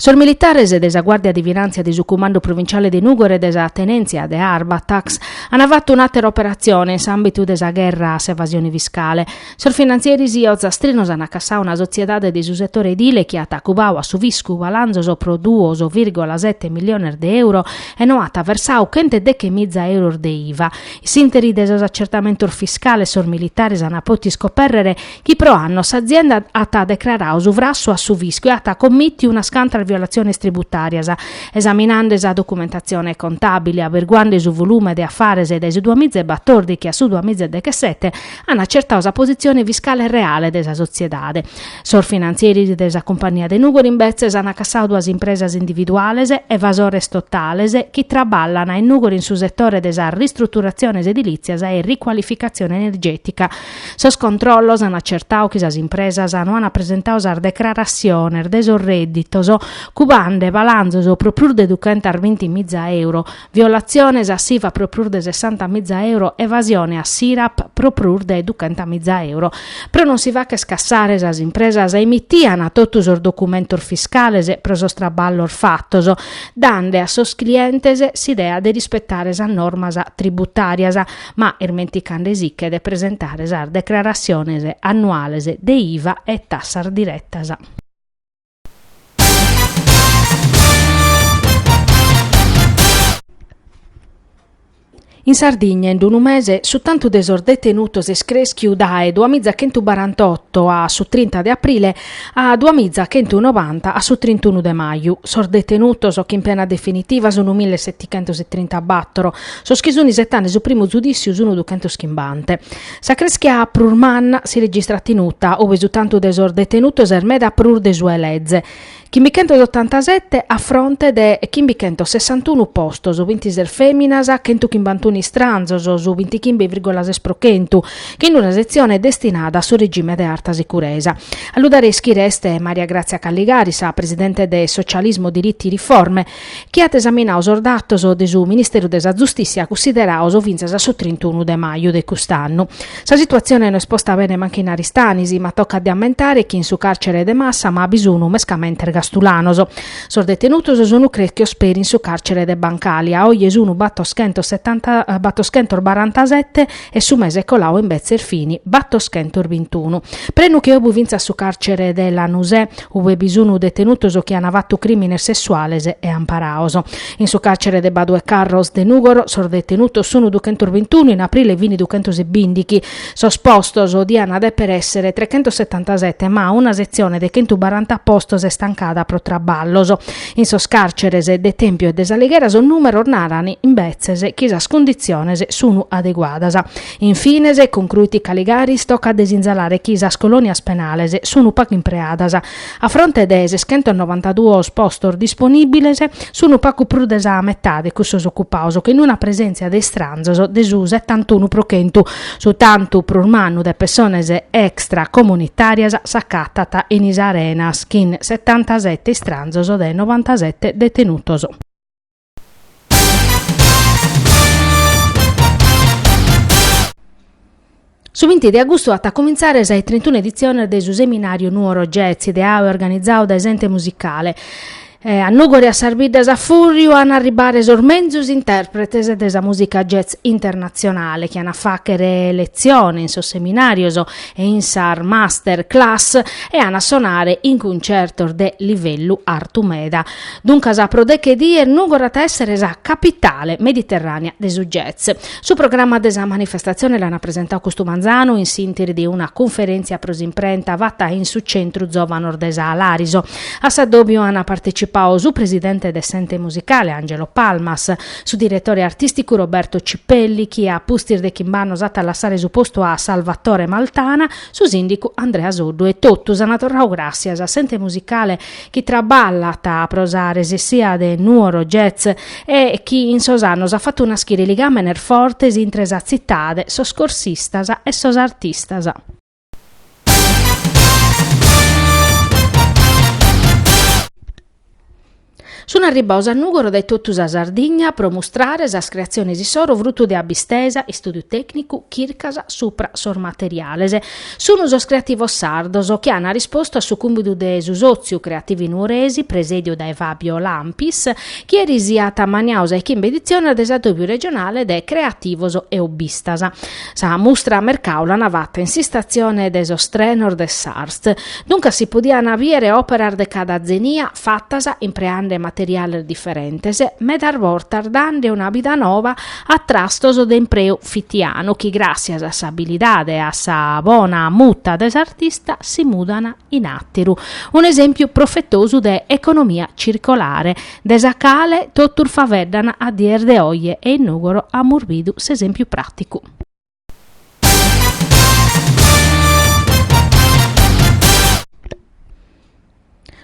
Sos militares de sa Guàrdia de Finàntzia de su Cumandu Provinciale de Nùgoro e de sa Tenèntzia de Arbatax ant fatu un'àtera operatzione in s'àmbitu de sa gherra a s'evasione fiscale. Sos finantzieris ozastrinos ant cassadu una sotziedade de su setore edile chi at acubadu a su fiscu balanzos pro duos vìrgola sete miliones de euro e no at versadu chente deche miza euros de iva. In s'ìnteri de sos atzertamentos fiscales sos militares ant potu iscopèrrere chi pro annos s'azienda at decraradu su frassu a su fiscu e at commìtiu unas cantas violatziones tributàrias. Esaminande sa documentatzione contàbile, averguande su volume de afares dae su duas miza e batòrdighi a su duas miza e dechesete, an acertadu sa positzione fiscale reale de sa sotziedade. Sos finantzieris de sa cumpagnia de Nùgoro imbetzes an cassadu duas impresas individuales, evasores totales, chi traballan in Nùgoro in su setore de sas ristruturatziones edilìtzias e ricualificatzione energètica, Sos controllos an acertadu chi sas impresas no an presentadu sas decrarassiones de sos rèdditos cubande balanzos pro prus de duchentas binti miza euro, violatziones a s'Iva pro prus de sessanta miza euro, evasione a s'IRAP pro prus de duchenta miza euro. Pro non si fagher cassare sas impresas emitian totu sos documentos fiscales pro sos traballos fatos, dande a sos clientes s'idea de rispetare sas normas tributàrias. ma ismenticande siche de presentare sas decrarassiones annuales de iva e tassas direttas. In Sardigna in d-unu mese su tantu de sos detenutos est crèschiu dae duamiza chentubarantotto a su trinta de aprile A duamiza chentu nobanta a su trintunu de maju, sos detenutos chin pena definitiva sunu mille setichentos e trintabattoro, sos chi sun isettande su primu zudissiu sunu duchentos chimbante. Sa creschia prus manna si registrat in Uta, ube su tantu de sos detenutos est meda prus de su 'e leze, chimbichentos otantasette a fronte de chimbichentos sessantunu postos, binti ses feminas, chentu chimbantunu istranzos, su bintichimbe virgola ses pro chentu, chin d-una setzione destinada a su regime de arta sicuresa. A lu dare a ischire est Maria Grazia Caligaris, sa presidente de Socialismo Diritti Riforme, chi at esaminadu sos datos de su Ministeru de sa Zustissia cussiderados fintzas a su trintunu de maju de cust'annu. Sa situatzione no est posta bene mancu in Aristanis, ma tocat de ammentare chi in su càrcere de Massama bi sun mescamente ergastulanos. Sos detenutos sun crèschios peri in su càrcere de Bancali, a oje sun battoschentos setanta battoschentos barantasete, e su mese coladu imbetzes fini battoschentos bintunu. Prenu che obu fintzas su càrcere de Lanusè, ue bi sunu detenutos chi ana fattu crìmines sessuales e amparados. In su càrcere de Badu e Carros de Nùgoro sos detenutos sunu duchentos bintunu, in aprile fini duchentos e bìndighi. Sos postos diana dèpere èssere trechentos setantasete, ma una setzione de chentu baranta postos est tancada pro traballos. In sos càrceres de Tèmpiu e de S'Alighera sos nùmeros naran, imbetzes, chi sas cunditziones sun adeguadas. In fines, concruit Caligaris, tocat de sinzalare chi sas colònias penales sun pagu impreadas. A fronte de seschentos novantaduos postos disponìbiles, sun pagu prus de sa metade cussos ocupados, chin una presèntzia de istranzos de su setantunu pro chentu, Su tantu prus mannu de pessones extracomunitàrias s'acatat in Is Arenas chin setantasete istranzos de novantasete detenutos. Su binti de agustu at a comintzare sa de trintuna editzione de su seminàriu Nuoro Jazz ideadu e organizadu dae s'Ente Musicale. A Nùgoro e a sas biddas a fùrriu an a arribare sos menzus intèrpretes de sa mùsica jazz internatzionale chi an a fàghere letzione in sos seminàrios e in sas master class e an a sonare in cuncertos de livellu artu meda. Duncas pro deche dies Nùgoro at a èssere sa capitale mediterrània de su jazz. Su programma de sa manifestatzione l'an presentadu custu manzanu in s'ìnteri de una cunferèntzia pro s'imprenta fata in su Centru Zòvanos de sa Làriso. A s'addòbiu ant partecipau su presidente de s'Ente Musicale, Angelo Palmas, su diretore artìsticu Roberto Cipelli, chi a pustis de chimb'annos at a lassare su postu a Salvatore Maltana, su sìndicu Andrea Soddu e totus ant torrau gràssias a s'Ente Musicale chi traballat pro sa resessia de Nuoro Jazz e chi in sos annos at fatu naschire ligàmenes fortes intre sa tzitade, sos corsistas e sos artistas. Sun arribbados a Nùgoro dae totu sa Sardigna pro mustrare sas creatziones issoro frutu de abbistesa e istùdiu tècnicu, chircas supra sos materiales. Sun sos creativos sardos chi an rispostu a su cùmbidu de su sòtziu Creativi Nuoresi presèdiu dae Fabio Lampis chi eris at ammaniadu sa de chimbe editziones de s'addòbiu regionale de creativos e hobbistas. Sa mustra mercau l'ana fatta in s'istatzione de sos trenos de s'Arst, duncas si podiana biere òperas de cada zenia fattas impreande materiales diferentes, medas bortas dande una bida nova a trastos de impreu fitianu chi gràssias a s'abilidade e a sa bona muta de s'artista si mudana in àteru, un'esèmpiu profetosu de economia circolare. de sa cale totus faveddant a dies de oje e in Nùgoro amus bidu s'esèmpiu pràticu.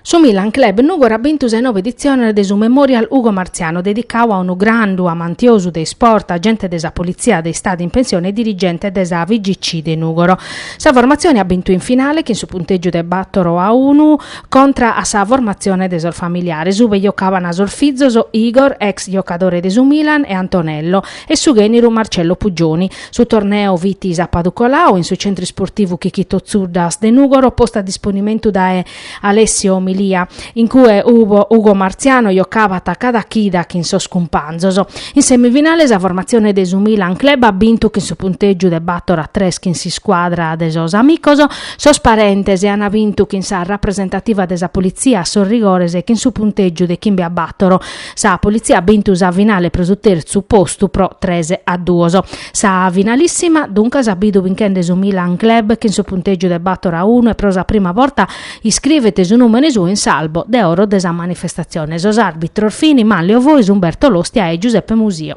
Su Milan Club Nùgoro at bintu sa nova editzione de su Memorial Ugo Marziano dedicadu a unu grandu amantiosu de isport, agente de sa politzia de Istadu in pensione e dirigente de sa FIGC de Nùgoro. Sa formatzione at bintu in finale chin su puntègiu de bàtoro a unu, Contra a sa formatzione de sos familiares ube giocabana sos fizos Igor, ex giocadore de su Milan, e Antonello, e su ghèneru Marcello Puggioni. Su torneu fit sapadu coladu in su Centru Isportivu Chicchito Zuddas de Nugoro postu a disponimentu dae Alessio Milia, in cue Ugo Marziano giocabat cada chida chin sos cumpanzos. In semifinale sa formatzione de su Milan Club at bintu chin su puntegiu de bator a tres chin s'iscuadra de sos amicos, Sos parentes an bintu chin sa rapresentativa de sa politzia a sos rigores chin su puntègiu de chimbe a bàtoro. Sa politzia at bintu sa finale pro su tertzu postu pro tres a duos. Sa finalissima, duncas, at bidu binchende su Milan Club chin su puntègiu de bàtoro a unu e pro sa prima borta iscrivet su nùmene suo in s'albo de oro de sa manifestatzione. Sos àrbitros fin Manlio Fois, Umberto Lostia e Giuseppe Musio.